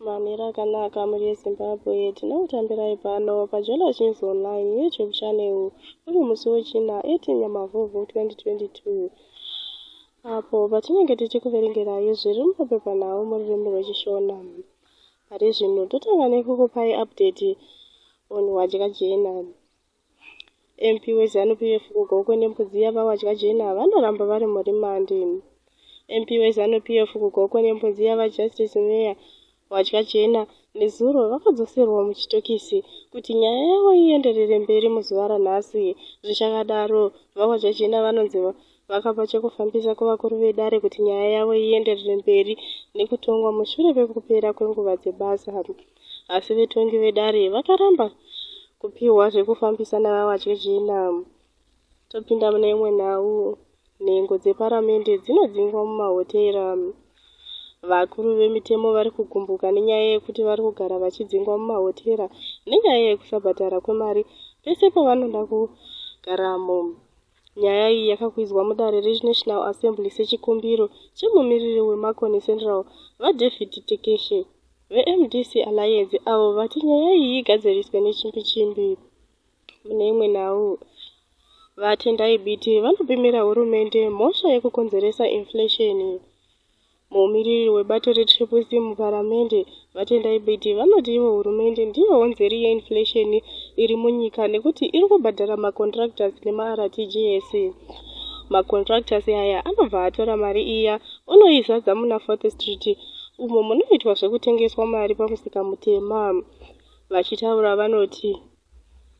mamira akanaka mhuri yezimbabwe tinokutambirai pano pajealous news online youtube channel uri musi wechina 18 nyamavhuvhu 2022 apo patinenge tichikuverengerai zviri mumapepanhau mururimi rwechishona pari zvino totanga nekukupai update on wadyajena MP weZanu PF kuGokwe nembudzi yavawadya jena vanoramba vari murimandi. MP weZanu PF kuGokwe nembudzi yavaJustice Meya Wadya Jena nezuro vakadzoserwa muchitokisi kuti nyaya yavo ienderere mberi muzuva ranhasi. Zvichakadaro, VaWadya Jena vanonzi Vakapa chekufambisa kuvakuru vedare kuti nyaya yavo ienderere mberi nekutongwa mushure pekupera kwenguva dzebasa. Asi vetongi vedare vakaramba kupiwa zvekufambisa navavatye zvina. Topinda mune imwe nhau. Nhengo dzeparamende dzinodzingwa mumahotera. Vakuru vemitemo vari kugumbuka nenyaya yekuti vari kugara vachidzingwa mumahotera nenyaya yekusabhadhara kwemari pese pavanoda kugaramo. Nyaya iyi yakakwidzwa mudare reNational Assembly sechikumbiro chemumiriri weMakoni Central, VaDavid Tekeshe, veMDC Alliance avo vati nyaya iyi igadziriswe nechimbi chimbi. Mune imwe nhau, VaTendai Biti vanopimira hurumende mhosva yekukonzeresa inflation. Mumiriri webato reTriple C muparamende, VaTendai Biti, vanoti ivo hurumende ndiyo honzeri yeinflation iri munyika nekuti iri kubhadhara macontractors nemaRTGS. Macontractors aya anobva atora mari iya onoizadza muna Fourth Street umo munoitwa zvekutengeswa mari pamusika mutema. Vachitaura vanoti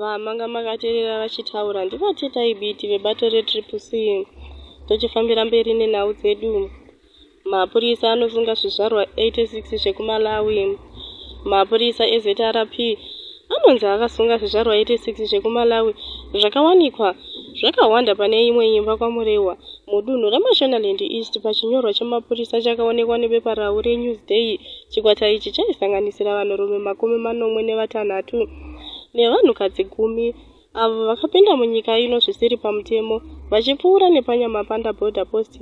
Vamanga makaterera vachitaura ndivo teta ibiti vebato retriple c tochifambira mberi nenhau dzedu mapurisa anosunga zvizvarwa 86 zvekumalawi mapurisa ezrp anonzi akasunga zvizvarwa 86 zvekumalawi zvakawanikwa zvakawanda pane imwe imba kwamurehwa mudunhu remashonaland east pachinyorwa chemapurisa chakaonekwa nebepa rau renewsday chikwata ichi chaisanganisira vanhurume makumi manomwe nevatanhatu nevanhukadzi gumi avo vakapinda munyika ino zvisiri pamutemo vachipfuura nepanyamapanda border post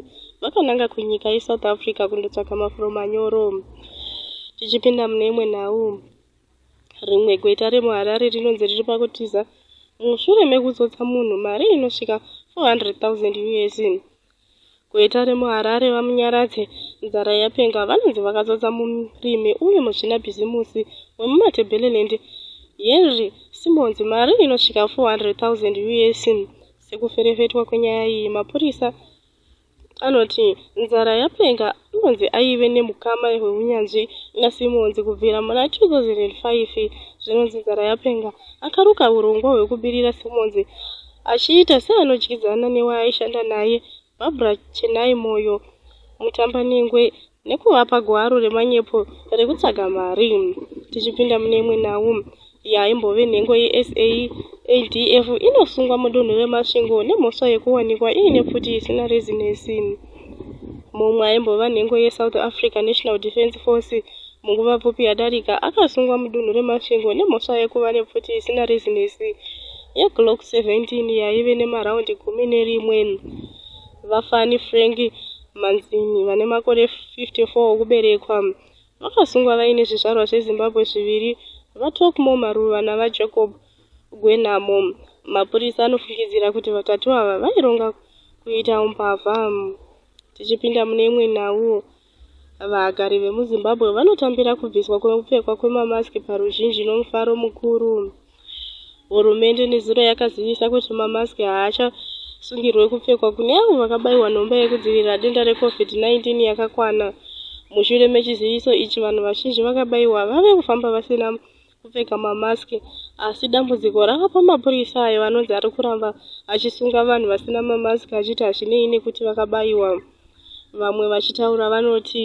vakananga kunyika yesouth africa kundotsvaga mafuro manyoro tichipinda mune imwe nhau rimwe gweta remuharare rinonzi riri pakutiza mushure mekutsotsa munhu mari inosvika 400 000 us Gweta remuHarare, VaMunyaradzi Nzara Yapenga, vanonzi vakazodza murimi uye muzvinabhizimusi wemuMatebeleland, Henry Simonzi, mari inosvika 400,000 US. Sekuferefetwa kwenyaya iyi, mapurisa anoti Nzara Yapenga Simonzi aive nemukama hweunyanzvi na Simonzi kubvira muna 2005 zvinonzi nzara yapenga akaruka hurongwa hwekubirira Simonzi achiita seanodyidzana newaaishanda naye Barbra Chenai Moyo Mutambanengwe nekuvapa gwaro remanyepo rekutsvaga mari. Tichipinda mune imwe nhau, yaimbove nhengo yeSALDF inosungwa mudunhu reMasvingo nemhosva yekuwanikwa iine pfuti isina rezinesi. Mumwe aimbova nhengo yeSouth Africa National Defence Force munguva pfupi yadarika akasungwa mudunhu reMasvingo nemhosva yekuva nepfuti isina rezinesi yeGlock 17 yaive nemaraundi gumi nerimwe. Vafani Frank Manzini vane makore 54 okuberekwa Vakasungwa vaine zvizvarwa zveZimbabwe zviviri, VaTalkmore Maruva naVaJacob Gwenhamo. Mapurisa anofungidzira kuti vatatu ava vaironga kuita umbavha. Tichipinda mune imwe nhau, vagari vemuZimbabwe vanotambira kubviswa kwekupfekwa kwemamasiki paruzhinji nomufaro mukuru. Hurumende nezuro yakazivisa kuti mamaski haachasungirwe kupfekwa kune avo vakabaiwa nhomba yekudzivirira denda reCovid-19 yakakwana. Mushure mechiziviso ichi, vanhu vazhinji vakabaiwa vave kufamba vasina kupfeka mamaski asi dambudziko rava pamapurisa ayo anonzi ari kuramba achisunga vanhu vasina mamaski achiti hazvinei nekuti vakabaiwa. Vamwe vachitaura vanoti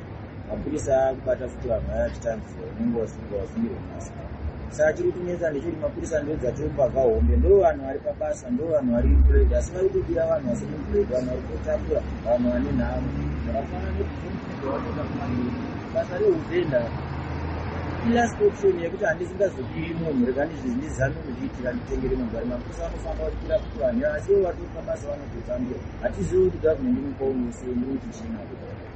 mapurisa akubata futi vanhu vaya vachitambisa unenge wasunga wasungirwa masa saka chiri kunetsa ndechekuti mapurisa ndo dzatiri mbavha hombe ndo vanhu vari pabasa ndo vanhu vari employed asi vari kudira vanhu vasiri employed vanhu vari kutambura vanhu vane nhamo zvakafanana nekuaoa basa reuvenda ilast option yekuti handisingazopiwi munhu rega ndizvizindizame kuzviitira nditengere munhu vari mapurisa vanofamba vachipira kuti vanhu asi ivo vari kutambasa vanototambura hatizivi kuti government inopaunese ndinotichina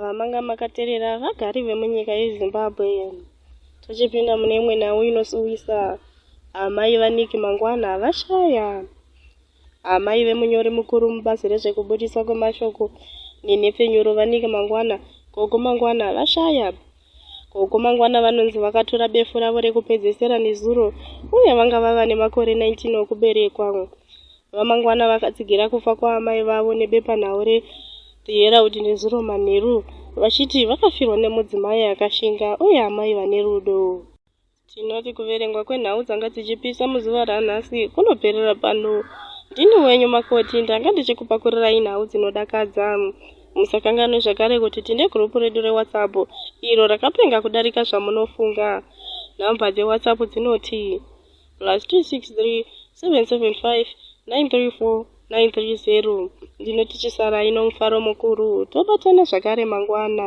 vamanga makaterera vagari vemunyika yezimbabwe tochipinda mune imwe nhau inosuwisa amai vaniki mangwana vashaya amai vemunyori mukuru mubazi rezvekubudiswa kwemashoko nenhepfenyuro vaniki mangwana gogo mangwana vashaya Ko uko mangwana vanonzi vakatora befu ravo rekupedzesera nezuro uye vanga vava nemakore 19 okuberekwa. VaMangwana vakatsigira kufa kwaamai vavo nebepanhau re The Herald nezuro manheru vachiti vakafirwa nemudzimai akashinga uye amai vane rudo. Tinoti kuverengwa kwenhau dzanga dzichipisa muzuva ranhasi kunoperera pano. Ndini wenyu makoti ndanga ndichikupakurirai nhau dzinodakadza. Musakanganwe zvakare kuti tine gurupu redu reWhatsApp iro rakapenga kudarika zvamunofunga. Nhamba dzeWhatsApp dzinoti plus 263 775 934 930. Ndinoti chisarai nomufaro mukuru, tobatana zvakare mangwana.